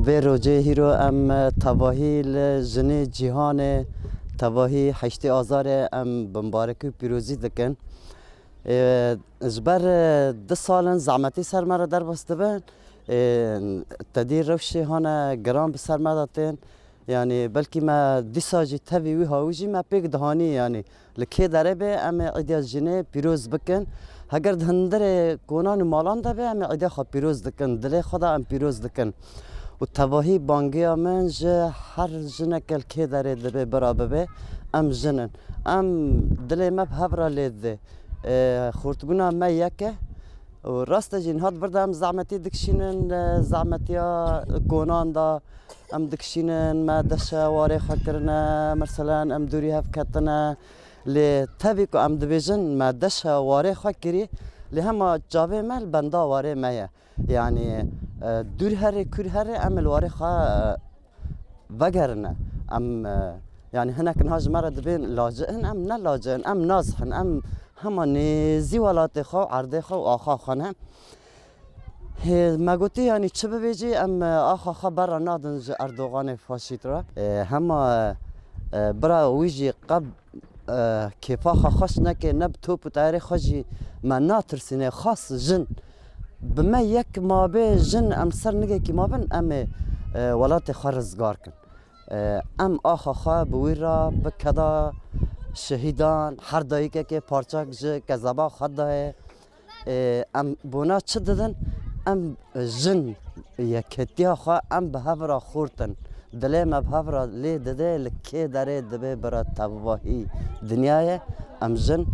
Vê rojê hîro em tevahî li jinê cîhanê tevahî heştê azarê em bi mbarekî û pîrozî dikin. Ji ber du sal in zehmetî ser me re derbas dibe. Tedî rewşê hane giran bi ser me de tên. Yanî belkî me dîsa jî tevî wî hawî jî me pêk dihanî yanî. Li kê derê be em ê îdiya jinê pîroz bikin. Heger di hundirê konan û malan de be em ê îdiya xwe pîroz dikin. Dilê xwe de em pîroz dikin. Û tevahî bangeya min ji her jineke li kê derê dibe bira bibe em jin in. Em dilê me bi hev re lê dide. Xurtbûna me yek e. Rast e jî niha di vir de em zehmetî dikişînin zehmetiya konan de. Em dikişînin, me deşe warê xwe kirine, meselan em dûrî hev ketine. Lê tevî ku em dibêjin me deşe warê xwe kirî, lê hema çavê me li benda warê me ye. Yanî dûr herê kûr herê em ê li warê xwe vegerine. Em yanî hinek niha ji me re dibên laci'in em ne laci'in em nazi'in. Em hema nêzî welatê xwe û erdê xwe û axa xwe ne. Hêz, me gotî yanî çi bibêjî em axa xwe berra nadin ji Erdoganê faşît re. Hema bira wî jî qeb kêfa xwe xweş neke, ne bi top û teyarê xwe jî me natirsîne, xas jin. Bi me yek mabê jin em ser nigekî mabin em ê welatê xwe rizgar kin. Em axa xwe bi wî re bi keda şehîdan her dayikekê parçek ji kezeba xwe de ye. Em bona çi didin? Em jin yeketiya xwe em bi hev re xurtin. Dilê me bi hev re lê dide li kê derê dibê bira tevahî dinyayê. Em jin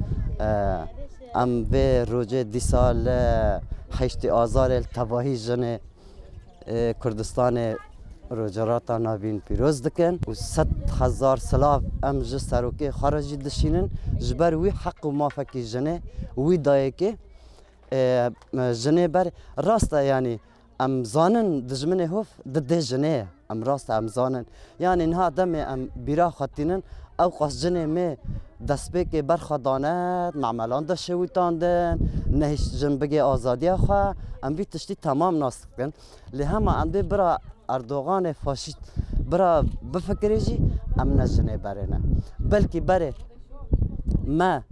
em vê rojê dîsa li heştê azarê li tevahî jinê. Kurdistanê rocerata navîn pîroz dikin û sed hezar silav em ji serokê xwe re jî dişînin ji ber wî heq û mafekî jinê û wî dayêkê jinê ber rast e yanî em zanin dijminê hov di dê jinê ye em rast e em zanin Yanî niha demê em bîra xwe tînin, ew qas cinê mê destpêkê ber xwe dane, mamelan de şewitandin, nehîşt jin bigê azadiya xwe, em vî tiştî temam nas dikin. Lê hema em dê bira Erdoganê faşîst bira bifikirê jî em ne jinê berê ne. Belkî berê me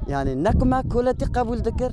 yanî ne ku me koletî qebûl dikir,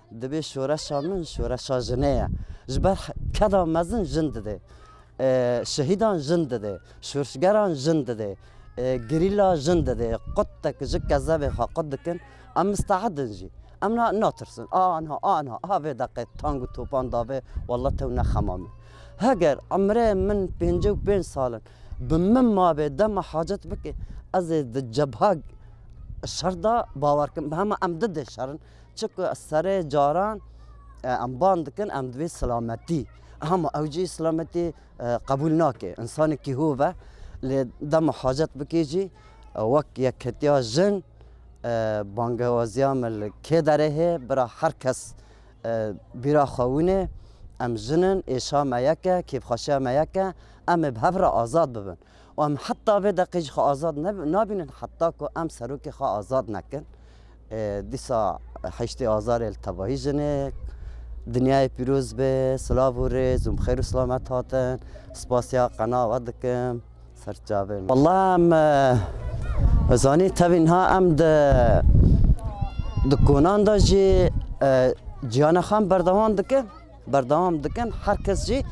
Divê şoreşa min şoreşa jinê ye. Ji ber keda mezin jin didê. Şehîdan jin didê. Şorşgeran jin didê. Gerîla jin didê. Qut te ji kezebê xwe qut dikin. Em misteedin jî. Em natirsin. A anha a anha a vê deqê tang û topan davê walla tew nexema min. Heger emrê min pêncî û pênc sal in bi min mabê dema hacet bikê ez ê di cebha şer de bawer bikim. Hema em di dê şerin. Çiqu ez serê caran em bang dikin em divê silametî hema ew jî silametî qebûl nake. Însanekî hov e lê dema hacet bikê jî wek yekhetiya jin bangewaziya me li kê derê hê bira her kes bîra xwe winê em jin in êşa me yek e kêfxweşiya me yek e em ê bi hev re azad bibin. û em heta vê deqê jî xwe azad nabînin heta ku em serokê xwe azad nekin. Dîsa heştê azarê li tevahî jinê dinyayê pîroz be silav û rêz û xêr û silamet hatin. Spasiya qena we dikim serçavê. Walla em zanî tevî niha em di di konan de jî ciyana xwe em berdewam dikin. Berdewam dikin her kes jî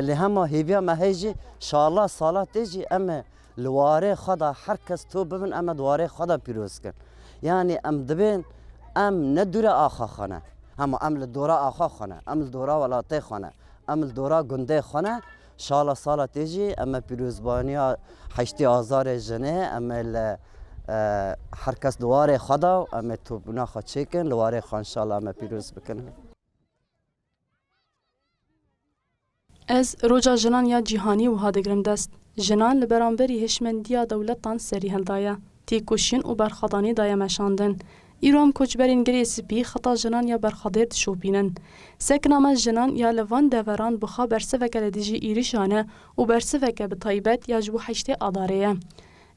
li hema hêviya me heye jî şala sala tê jî em ê li warê xwe de her kes to bibin em ê di warê xwe de pîroz bikin. Yanî em dibên em ne dûre axa xwe ne hema em li dora axa xwe ne, em li dora welatê xwe ne, em li dora gundê xwe ne şala sala tê jî em ê pîrozbaniya heştê azarê jinê em ê li her kes di warê xwe de û em ê topbûna xwe çêkin li warê xwe inşallah em ê pîroz bikin. Ez Roja Jinan ya Cîhanî wiha digirim dest, Jinan li beramberî hişmendiya dewletan serî hildaye, têkoşîn û berxwedanî daye meşandin. Îro em koçberên Girê Spî xeta jinan ya berxwedêr dişopînin. Sekna me jinan ya li van deveran bixa bersiveke li dijî êrişan e û bersiveke bi taybet ya ji bo heştê Adarê ye.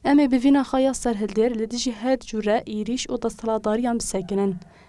Em ê bi vîna xa ya serhildêr li dijî her cûre êrîş û desthilatdariyan bisekinin.